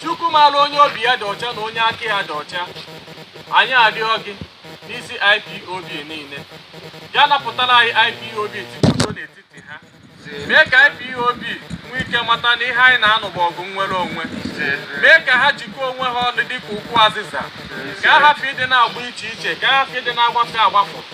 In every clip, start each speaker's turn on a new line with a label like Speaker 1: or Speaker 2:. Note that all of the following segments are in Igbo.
Speaker 1: chukwu maara onye obi ya dị ọcha na onye aka ya dị ọcha anyị arịọ gị n'isi ipob niile bịa napụtara anyị ipob tikwa udo n'etiti ha mee ka ipob nwee ike mata na ihe anyị na-anụ bụ ọgụ nnwere onwe mee ka ha jikọọ onwe ha ọnụ dịka ukwu azịza ka ha hapụ ịdị na-agba iche iche ka ha hapụ ịdị na-agbafọ agbafọ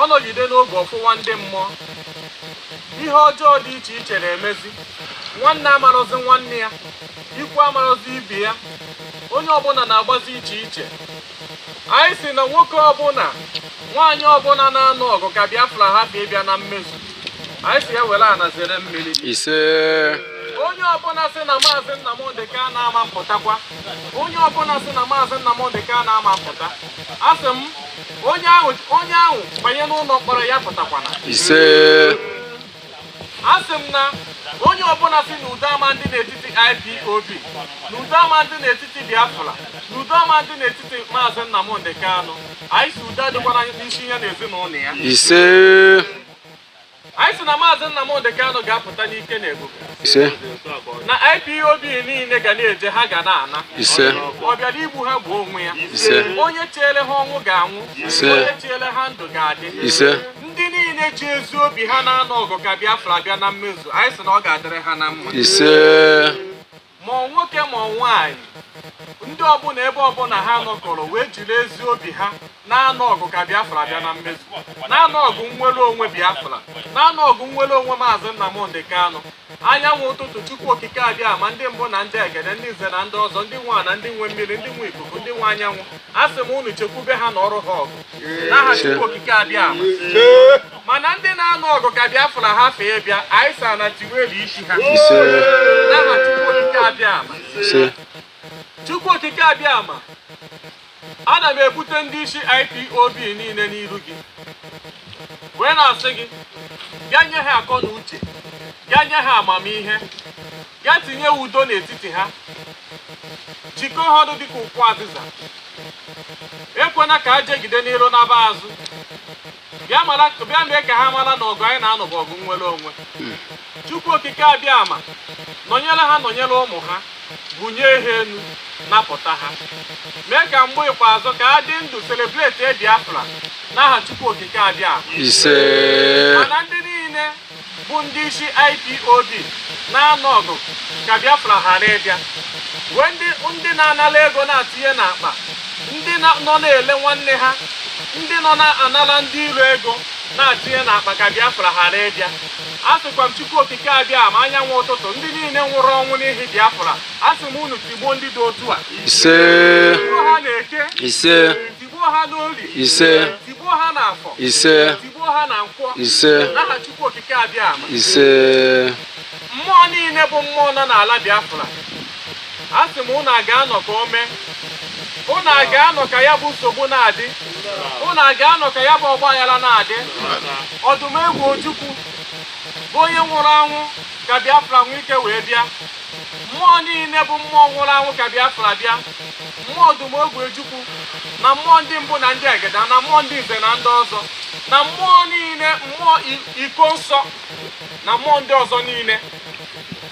Speaker 1: ọ nọgide n'oge ọ fụwa ndị mmụọ ihe ọjọọ dị iche iche na-emezi nwanne amarọzi nwanne ya ikwu amarọzi ibe ya onye ọbụla na-agbazi iche iche anyị sị na nwoke ọbụla nwaanyị ọbụla na-anụ ọgụ ka Biafra hapụ ịbịa na mmezu anyị sị ya were ana zere mmiri ise onye ọbụla sị na maazị Nnamdị Kanụ ama mpụtakwa onye ọbụla sị na maazị Nnamdị Kanụ ama mpụta asị m onye ahụ banye n'ụlọ mkpọrọ ya apụtakwana ise asị m na onye ọbụla sị na udo ama ndị n'etiti IPOB na udo ama ndị n'etiti Biafra na udo ama ndị n'etiti maazị Nnamdị Kanụ anyị sị udo adịkwana n'isi ya na ezinụlọ ya ise anyị sị na maazị Nnamdị Kanụ ga-apụta n'ike na ebube ise na IPOB niile ga na-eje ha ga na-ana ise ọ bịara igbu ha gbuo onwe ya ise onye cheere ha ọnwụ ga-anwụ Ise. onye cheere ha ndụ ga-adị ise ndị niile ji ezi obi ha na-anụ ọgụ ka Biafra bịa na mmezu anyị sị na ọ ga-adịrị ha na mma ise ma nwoke ma nwaanyị ndị ọbụla ebe ọbụla ha nọkọrọ wee jiri ezi obi ha na-anụ ọgụ ka biafra bịa na mmezu na-anụ ọgụ nnwere onwe biafra na-anụ ọgụ nnwere onwe maazị nnamdị kanụ anyanwụ ụtụtụ chukwu okike abịama ndị mbụ na ndị egede ndị nze na ndị ọzọ ndị nwe ana ndị nwe mmiri ndị nwe ikuku ndị nwe anyanwụ asị m unu chekwube ha nụọrọ ha ọgụ n'aha chukwu okike abịama mana ndị na-anụ ọgụ ka Biafra hapụ ịbịa anyị sị ana tiwelu isi ha n'aha Chukwu Okike Abịama Chukwu Okike Abịama ana m ebute ndị isi IPOB niile n'iru gị wee na-asị gị bịa nye ha akọ na uche bịa nye ha amamihe bịa tinye udo n'etiti ha jikọọ ha ọnụ dịka ukwu azịza ekwena ka ha jegide n'iru naba azụ bịa mee ka ha mara na ọgụ anyị na-anụ bụ ọgụ nnwere onwe chukwu okike abịama nọnyere ha nọnyere ụmụ ha bunye ha enu napụta ha mee ka mgbe ikpeazụ ka ha dị ndụ celebrate biafra n'aha chukwu okike abịama ise mana ndị niile bụ ndị isi IPOB na-anụ ọgụ ka Biafra ghara ịbịa wee ndị ndị na-anala ego na-atinye n'akpa ndị na- nọ na-ele nwanne ha ndị nọ na-anala ndị iro ego na-atinye n'akpa ka Biafra ghara ịbịa a sịkwa m Chukwu Okike Abịama anyanwụ ụtụtụ ndị niile nwụrụ ọnwụ n'ihi Biafra a sị m unu tigbuo ndị dị otu a ise tigbuo ha n'eke ise tigbuo ha n'olie ise tigbuo ha n'afọ ise tigbuo ha na nkwọ ise n'aha Chukwu Okike Abịama ise mmụọ niile bụ mmụọ nọ n'ala Biafra a sị m unu aga anọ ka o mee unu aga anọ ka ya bụ nsogbu na-adị unu aga anọ ka ya bụ ọgba aghara na-adị Odumegwu Ojukwu bụ onye nwụrụ anwụ ka Biafra nwee ike wee bịa mmụọ niile bụ mmụọ nwụrụ anwụ ka Biafra bịa mmụọ Odumegwu Ojukwu na mmụọ ndị mbụ na ndị egede na mmụọ ndị Nze na ndị ọzọ na mmụọ niile mmụọ Ikonso na mmụọ ndị ọzọ niile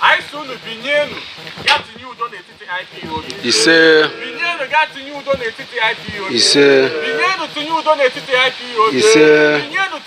Speaker 1: anyị sị unu binyenu ga tinye udo n'etiti IPOB ise binyenu ga tinye udo n'etiti IPOB ise binyenu tinye udo n'etiti IPOB ise binyenu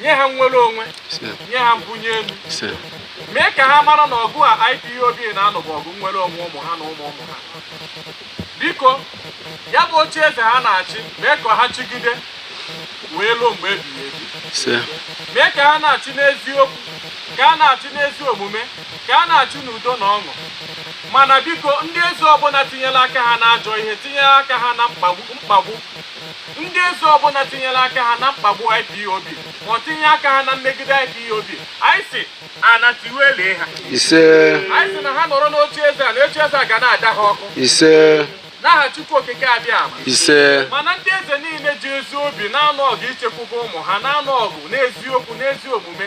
Speaker 1: nye ha nnwere onwe nye ha mbunye elu mee ka ha mara na ọgụ a IPOB na-anụ bụ ọgụ nnwere onwe ụmụ ha na ụmụ ụmụ ha biko ya bụ oche eze ha na-achị mee ka ha chigide wee ruo mgbe ebighị ebi mee ka ha na-achị n'eziokwu ka ha na-achị n'ezi omume ka ha na-achị n'udo na ọṅụ mana biko ndị eze ọbụla tinyere aka ha n'ajọ ihe tinyere aka ha na mkpagbu ndị eze ọbụla tinyere aka ha na mkpagbu IPOB ma ọ tinye aka ha na mmegide IPOB anyị sị ana tiwelie ha ise anyị sị na ha nọrọ n'oche eze a na oche eze a ga na-ada ha ọkụ ise n'aha Chukwu Okike Abịama ise mana ndị eze niile ji ezi obi na-anụ ọgụ ichekwube ụmụ ha na-anụ ọgụ n'eziokwu n'ezi omume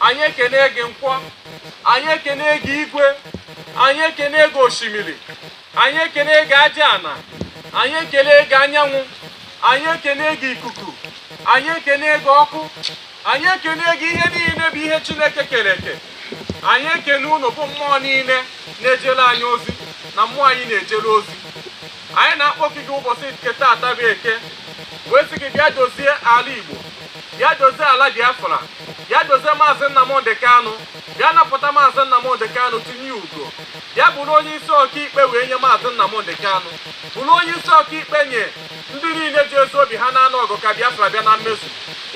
Speaker 1: anyị ekene gị nkwọ anyị ekene gị igwe anyị ekene gị osimiri anyị ekene gị aja ana anyị ekene gị anyanwụ anyị ekene gị ikuku anyị ekene gị ọkụ anyị ekene gị ihe niile bụ ihe chineke kere eke anyị ekene unu bụ mmụọ niile na-ejere anyị ozi na mmụọ anyị na-ejere ozi anyị na-akpọku gị ụbọchị nke taata bụ eke wee sị gị bịa dozie ala igbo bịa dozie ala biafra bịa dozie maazị nnamdị kanụ bịa napụta maazị nnamdị kanụ tinye ugo bịa bụrụ onye isi ọkaikpe wee nye maazị nnamdị kanụ bụrụ onye isi ọkaikpe nye ndị niile ji ezi obi ha na-anụ ọgụ ka biafra bịa na mmezu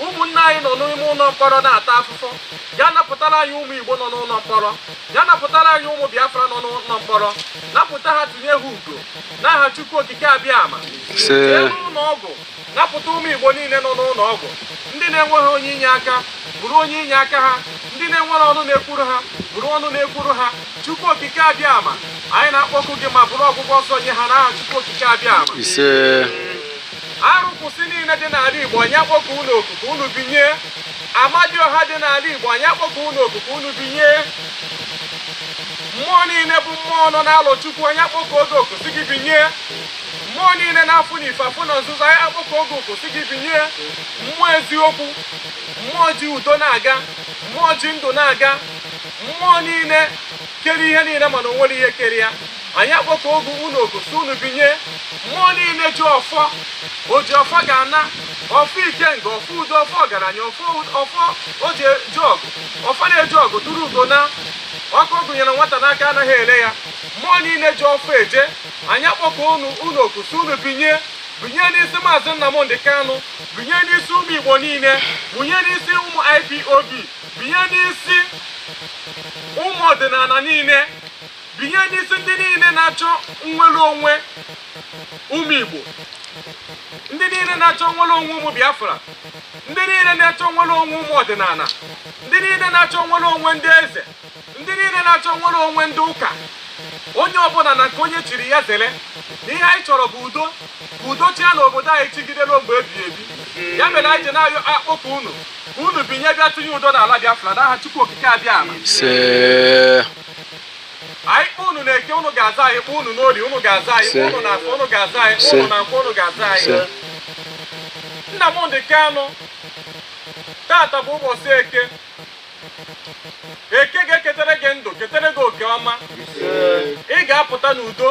Speaker 1: ụmụnne anyị nọ n'ime ụlọ mkpọrọ na-ata afụfụ bịa napụtara anyị ụmụ igbo nọ n'ụlọ mkpọrọ ya napụtara anyị ụmụ biafra nọ n'ụlọ mkpọrọ napụta ha tunye ha ugo n'aha chukwu okike abịama jee n'ụlọ ọgwụ napụta ụmụ igbo niile nọ n'ụlọ ọgwụ ndị na-enweghị onye inye aka bụrụ onye inye aka ha ndị na-enwere ọnụ na-ekwuru ha bụrụ ọnụ na-ekwuru ha chukwu okike abịama anyị na-akpọku gị ma bụrụ ọgwụgwọ ọsọ nye ha n'aha chukwu okike abịama arụkwụsị niile dị n'ala igbo anyị akpọkuo unu oku ka unu binye amadioha dị n'ala igbo anyị akpọkuo unu oku ka unu binye mmụọ niile bụ mmụọ nọ n'alụ chukwu anyị akpọkuo gị oku sị gị binye mmụọ niile na-afụ n'ife afụ na nzuzo anyị akpọkuo gị oku sị gị binye mmụọ eziokwu mmụọ ji udo na-aga mmụọ ji ndụ na-aga mmụọ niile kere ihe niile mana o nwere ihe kere ya anyị akpọkuogo unu oku sị unu binye mmụọ niile ji ọfọ o ji ọfọ ga-ana ọfọ ikenga ọfọ udo ọfọ ọgaranya ọfọ e ji eje ọgụ ọfọ na-eje ọgụ turu ugo na ọkụ a gụnyere nwata n'aka anaghị ele ya mmụọ niile ji ọfọ eje anyị akpọkuo unu oku sị unu binye binye n'isi maazị Nnamdị Kanụ binye n'isi ụmụ Igbo niile binye n'isi ụmụ IPOB binye n'isi ụmụ ọdịnala niile binye n'isi ndị niile na-achọ nnwere onwe ụmụ Igbo ndị niile na-achọ nnwere onwe ụmụ Biafra ndị niile na-achọ nnwere onwe ụmụ ọdịnala ndị niile na-achọ nnwere onwe ndị eze ndị niile na-achọ nnwere onwe ndị ụka onye ọbụla na nke onye chiri ya zere na ihe anyị chọrọ bụ udo ka udo chịa na obodo anyị chịgide ruo mgbe ebighị ebi ya mere anyị ji na-ayọ akpọku unu ka unu binye bịa tinye udo n'ala Biafra n'aha Chukwu Okike Abịama anyị kpọ unu na eke unu ga-aza anyị kpọ unu n'orie unu ga-aza anyị kpọ unu na afọ unu ga-aza anyị kpọ unu na nkwọ unu ga-aza anyị Nnamdị Kanụ tata bụ ụbọchị eke eke ga-eketere gị ndụ ketere gị oke ọma ị ga-apụta n'udo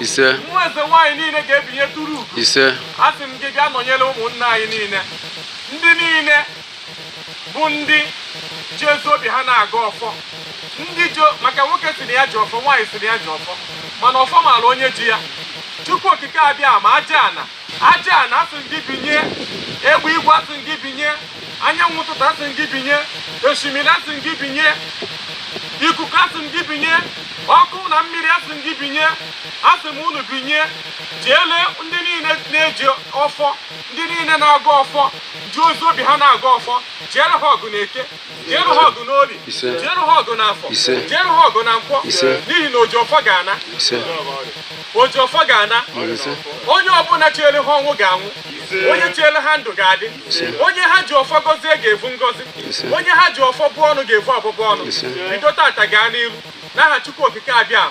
Speaker 1: ise mmụọ eze nwaanyị niile ga-ebinye turu ugo ise asị m gị bịa nọnyere ụmụnna anyị niile ndị niile bụ ndị ji ezi obi ha na-agọ ọfọ ndị ji maka nwoke sị na ya ji ọfọ nwaanyị sị na ya ji ọfọ mana ọfọ maara onye ji ya chukwu okike abịama aja ana aja ana asị m gị binye egbe igwe asị m gị binye anyanwụ ụtụtụ asị m gị binye osimiri asị m gị binye ikuku asị m gị binye ọkụ na mmiri asị m gị binye asị m unu binye jeele ndị niile na-eji ọfọ ndị niile na-agọ ọfọ ji ezi obi ha na-agọ ọfọ jeere ha ọgụ na eke jierụ ha ọgụ n'orie jierụ ha ọgụ n'afọ jierụ ha ọgụ na nkwọ n'ihi na oji ọfọ ga-ana oji ọfọ ga-ana onye ọbụla chiere ha ọnwụ ga-anwụ onye chiere ha ndụ ga-adị onye ha ji ọfọ gọzie ga-evu ngọzi onye ha ji ọfọ bụọ ọnụ ga-evu ọbụbụ ọnụ bido tata gaa n'iru n'aha Chukwu Okike abịa